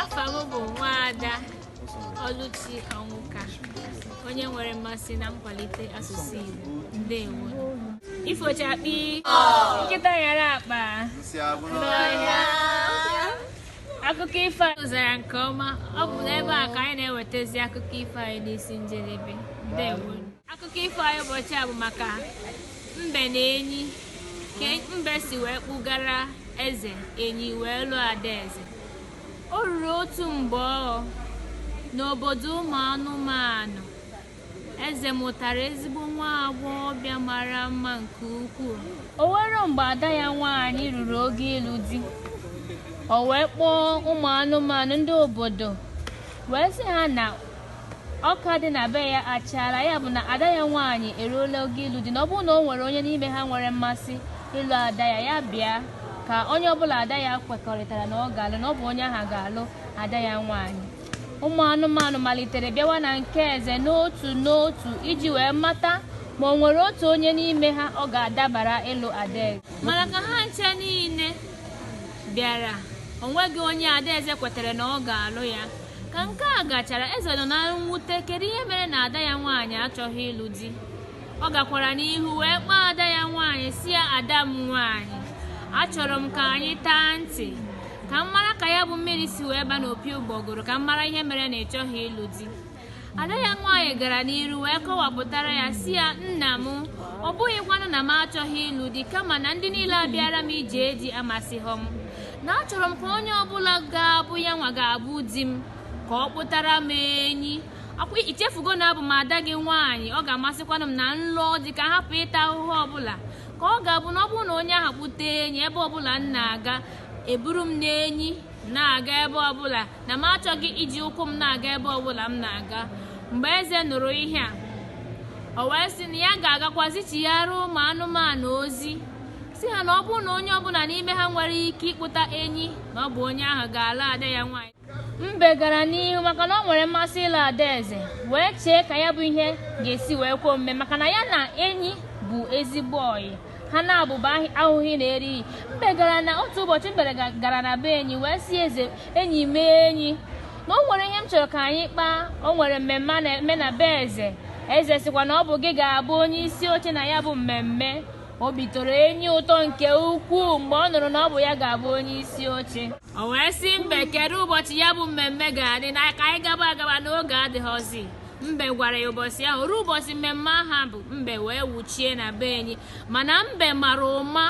afa m bụ nwaada ọlụchi ọnwụka onye nwere mmasị na nkwalite asụsụ igbo ndewo ifochakpi nkịta nyara akpa n'ọhịa akụkọ ifo anyị zara nke ọma ọ bụ n'ebe a ka anyị na-ewetazi akụkọ ifo anyị n'isi njedebe ndewo akụkọ ifo anyị ụbọchị a bụ maka mbe na enyi ka mbe si wee kpụgara eze enyi wee lụọ adaeze o ruru otu mgbe ọghọ n'obodo ụmụ anụmanụ eze mụtara ezigbo nwa agbọghọbịa mara mma nke ukwuu o were mgbe ada ya nwaanyị ruru oge ịlụ di o wee kpọọ ụmụ anụmanụ ndị obodo wee sị ha na Ọka dị na be ya achaala, ya bụ na ada ya nwaanyị eruola oge ịlụ di. Na ọ bụrụ na o nwere onye n'ime ha nwere mmasị ịlụ ada ya, ya bịa. Ka onye ọbụla ada ya kwekọrịtara na ọ ga-alụ, na ọ bụ onye ahụ ga-alụ ada ya nwaanyị. Ụmụ anụmanụ malitere bịawa na nke eze n'otu n'otu iji wee mata ma o nwere otu onye n'ime ha ọ ga-adabara ịlụ adaeze. Mana ka ha ncha niile bịara, o nweghị onye adaeze kwetere na ọ ga-alụ ya. Ka nke a gachara, Eze nọ na mwute kedu ihe mere na ada ya nwaanyị achọghị ịlụ di. Ọ gakwara n'ihu wee kpọọ ada ya nwaanyị sị ya ada m nwaanyị, achọrọ m ka anyị taa ntị ka m mara ka ya bụ mmiri si wee ba n'opi ụgbọgụrụ ka m mara ihe mere na ị chọghị ịlụ di. Ada ya nwaanyị gara n'iru wee kọwapụtara ya sị ya nna m ọ bụghịkwanụ na m achọghị ịlụ di kama na ndị niile a bịara m ije di amasịghị m na achọrọ m ka onye ọbụla ga-abụ ya nwa ga-abụ di m ka ọ kpụtara m enyi akwa i chefugo na abụ m ada gị nwaanyị ọ ga-amasịkwanụ m na m lụọ di ka hapụ ịta ahụhụ ọbụla ka ọ ga-abụ na ọ bụrụ na onye ahụ kpụta enyi ebe ọbụla m na-aga e buru m n'enyi na-aga ebe ọbụla na m achọghị iji ụkwụ m na-aga ebe ọbụla m na-aga mgbe eze nụrụ ihe a o wee sị na ya ga-agakwa zichighara ụmụ anụmanụ ozi sị ha na ọ bụrụ na onye ọbụla n'ime ha nwere ike ịkpụta enyi na ọ bụ onye ahụ ga-alụ ada ya nwaanyị mbe gara n'ihu maka na o nwere mmasị ịlụ adaeze wee chee ka ya bụ ihe ga-esi wee kwe omume maka na ya na enyi bụ ezigbo ọyị ha naabọ bụ ahụghị na erighị mbe gara na otu ụbọchị mbe gara na be enyi wee sị ezi enyi m enyi na o nwere ihe m chọrọ ka anyị kpaa o nwere mmemme a na-eme na be eze eze sịkwa na ọ bụ gị ga-abụ onye isi oche na ya bụ mmemme obi tọrọ enyi ụtọ nke ukwuu mgbe ọ nụrụ na ọ bụ ya ga-abụ onye isi oche o wee sị mbe kedu ụbọchị ya bụ mmemme ga-adị na ka anyị gaba agaba na oge adịghịzi mbe gwara ya ụbọchị ahụ ruo ụbọchị mmemme ahụ bụ mbe wee wuchie na be enyi mana mbe mara ụma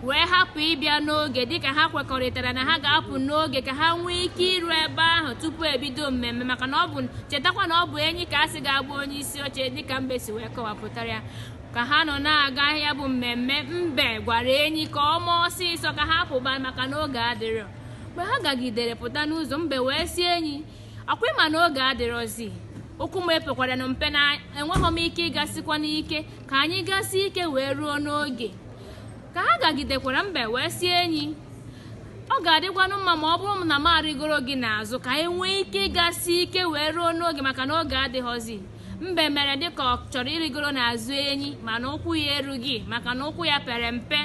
wee hapụ ịbịa n'oge dịka ha kwekọrịtara na ha ga-apụ n'oge ka ha nwee ike iru ebe ahụ tupu ebido mmemme maka na ọ bụ chetakwa na ọ bụ enyi ka a sị ga-abụ onye isi oche dịka mbe si wee kọwapụtara ya ka ha nọ na-aga ya bụ mmemme mbe gwara enyi ka o mee ọsịsọ ka ha pụba maka na oge adịrọ mgbe ha gagidere pụta n'ụzọ mbe wee sị enyi ọkwa ị ma na oge adịrọzi ụkwụ m pekwaranụ mpe na enweghị m ike ịgasikwanụ ike ka anyị gasie ike wee ruo n'oge ka ha gagidekwara mbe wee sị enyi ọ ga-adịkwanụ mma ma ọ bụrụ na m arịgoro gị n'azụ ka anyị nwee ike ịgasi ike wee ruo n'oge maka na oge adịghọzi mbe mere dịka ọ chọrọ ịrịgoro n'azụ enyi mana ụkwụ ya erughị maka na ụkwụ ya pere mpe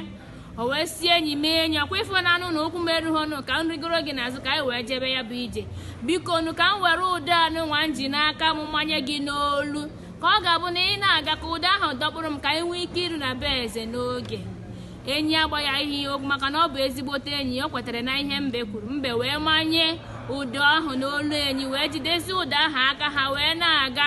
o wee sị enyi m enyi ọkwa ị fụnanụ na ụkwụ m erughịnụ ka m rịgoro gị n'azụ ka anyị wee jebe ya bụ ije biko nụ ka m were ụdọ a nụnwa m ji n'aka m manye gị n'olu ka ọ ga-abụ na ị na-aga ka ụdọ ahụ dọkpụrụ m ka anyị nwee ike iru na be eze n'oge enyi agbaghaghị okwu maka na ọ bụ ezigbote enyi o kwetere na ihe mbe kwuru mbe wee manye ụdọ ahụ n'olu enyi wee jidesi ụdọ ahụ aka ha wee na-aga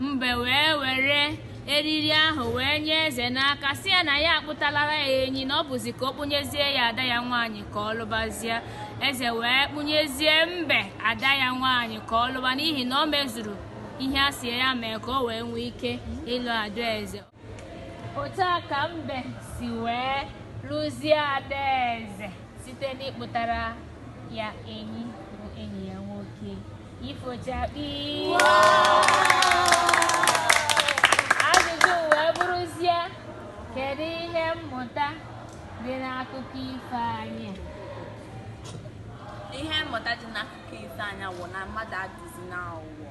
mbe wee were eriri ahụ wee nye eze n'aka sị ya na ya akpụtalara ya enyi na ọ bụzi ka ọ kpụnyezie ya ada ya nwaanyị ka ọ lụbazie eze wee kpụnyezie mbe ada ya nwaanyị ka ọ lụba n'ihi na o mezuru ihe a sị ya mee ka o wee nwee ike ịlụ adaeze otu a ka mbe si wee lụzie adaeze site n'ịkpụtara ya enyi bụ enyi ya nwoke ifochakpi ajụjụ wee bụrụzie kedu ihe mmụta dị n'akụkọ ifo anyị ihe mmụta dị n'akụkọ ifo anyị wụ na mmadụ adịzi n'ụwa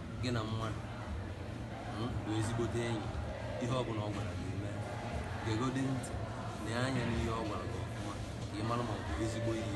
gị na mmadụ bụ ezigbote enyi ihe ọ bụla ọ gwara gị mee gegodi ntị na anya n'ihe ọ gwara gị ọfụma ka ị mara ma ọ bụ ezigbo ihe